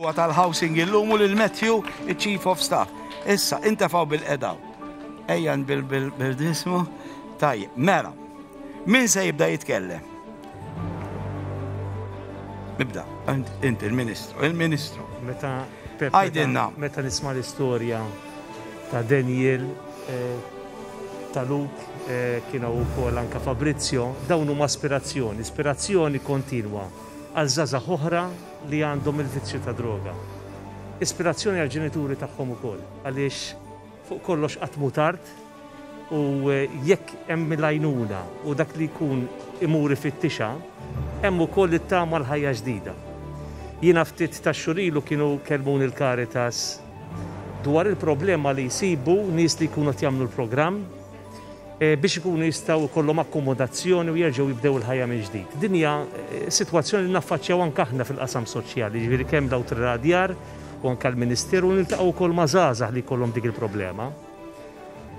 Huwa tal-housing illum u lil Matthew, il-chief of staff. Issa, intefaw bil-qedaw. Ejjan bil-dismu. Taj, mela. Min se jibda jitkellem? Nibda, inti il-ministru, il-ministru. Meta Għajdinna. Meta nisma l-istorja ta' Daniel, eh, ta' Luk, eh, kienu u kol anka Fabrizio, dawnu ma' aspirazzjoni, aspirazzjoni kontinwa. għal żgħażagħ oħra li għandhom il-vizzju tad-droga. Ispirazzjoni għall-ġenituri tagħhom ukoll għaliex fuq kollox qatt mhu tard u jekk hemm il-għajnuna u dak li jkun imur ifittixha, hemm ukoll it-tama l-ħajja ġdida. Jiena ftit tax-xhur ilu kienu kellmuni l-Caritas dwar il-problema li jsibu nies li jkunu qed jagħmlu l-programm, biex ikunu jistgħu jkollhom akkomodazzjoni u jerġgħu jibdew il-ħajja mill-ġdid. Din hija sitwazzjoni li naffaċċjaw anke aħna fil-qasam soċjali, jiġifieri kemm l-Awtorità tad-Djar u anke l-Ministeru u niltaqgħu wkoll ma' żgħażagħ li jkollhom dik il-problema.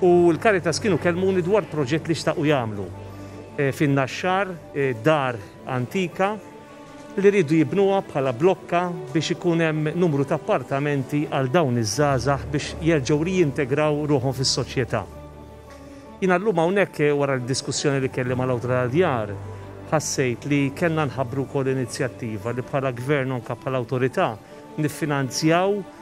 U l-Caritas kienu kellmuni dwar proġett li xtaqu jagħmlu fin-Naxxar, dar antika, li jridu jibnuha bħala blokka biex ikun hemm numru ta' appartamenti għal dawn iż-żgħażagħ biex jerġgħu rijintegraw ruħhom fis-soċjetà. Jiena llum hawnhekk wara d-diskussjoni li kelli mal-Awtorità tad-Djar ħassejt li kellna nħabbru wkoll inizjattiva li bħala Gvern u anke bħala Awtorità niffinanzjaw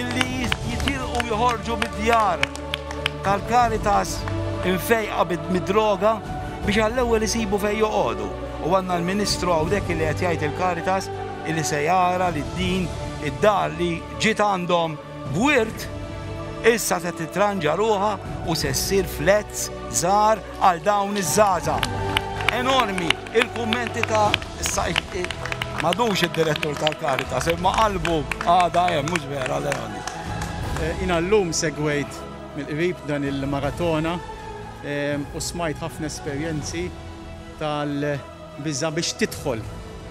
Illi jitilqu u joħorġu mid-djar tal-Caritas imfejqa mid-droga biex għall-ewwel isibu fejn joqogħdu. U għandna l-Ministru hawnhekk illi qed jgħid il-Caritas illi se jara li din id-dar li ġiet għandhom b'wirt issa se titranġa ruħha u se ssir flats żgħar għal dawn iż-żgħażagħ. Enormi il-kummenti ta' issa madux id-direttur tal-Caritas imma qalbu għadha hemm mhux vera Leoni? Jiena llum segwejt mill-qrib dan il-maratona u smajt ħafna esperjenzi tal biża' biex tidħol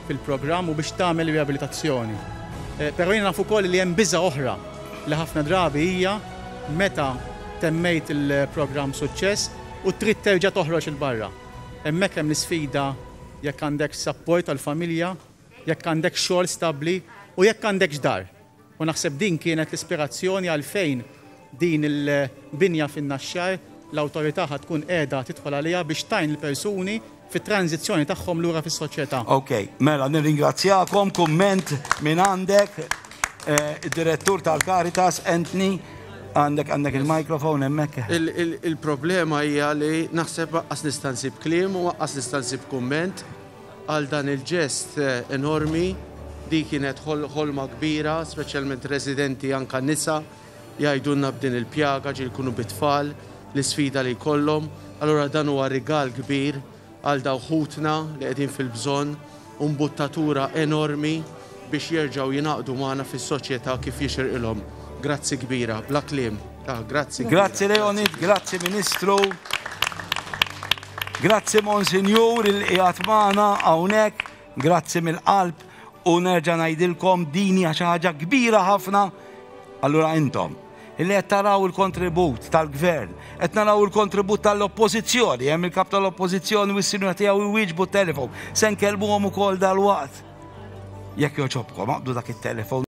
fil-programm u biex tagħmel ir-riabilitazzjoni. Però jiena naf ukoll li hemm biża' oħra li ħafna drabi hija meta temmejt il-programm b'suċċess u trid terġa' toħroġ 'il barra. Hemmhekk hemm l-isfida jekk għandekx sapport tal-familja, jekk għandekx xogħol stabbli u jekk għandekx dar. U naħseb din kienet l-ispirazzjoni għalfejn din il-binja fin-Naxxar l-Awtorità ħa tkun qiegħda tidħol għaliha biex tgħin lill-persuni fit-tranżizzjoni tagħhom lura fis-soċjetà. Ok, mela nirringrazzjakom, kumment mingħandek, id-Direttur tal-Caritas, Anthony, għandek għandek il-microphone hemmhekk. Il-problema hija li naħseb anqas nista' nsib kliem u anqas nista' nsib kumment. Għal dan il-ġest enormi, di kienet ħolma kbira, speċjalment residenti anka nisa jgħidulna b'din il-pjaga ġieli jkunu bi tfal, l-isfida li jkollhom, allura dan huwa rigal kbir għal dawk ħutna li qegħdin fil-bżonn u mbuttatura enormi biex jerġgħu jingħaqdu magħna fis-soċjetà kif jixirqilhom. Grazzi kbira, bla kliem. Ah, grazzi kbira. Grazzi Leonid, grazzi Ministru. Grazzi Monsinjur il qiegħed magħna hawnhekk. Grazzi mill-qalb u nerġa' ngħidilkom din hija xi ħaġa kbira ħafna. Allura intom illi qed taraw il-kontribut tal-gvern, qed naraw il-kontribut tal-oppożizzjoni, hemm il-kap tal-oppożizzjoni u s-sinjura tiegħu jwieġbu t-telefon. Se nkellmuhom ukoll dal-waqt. Jekk jogħġobkom aqbdu dak it-telefon.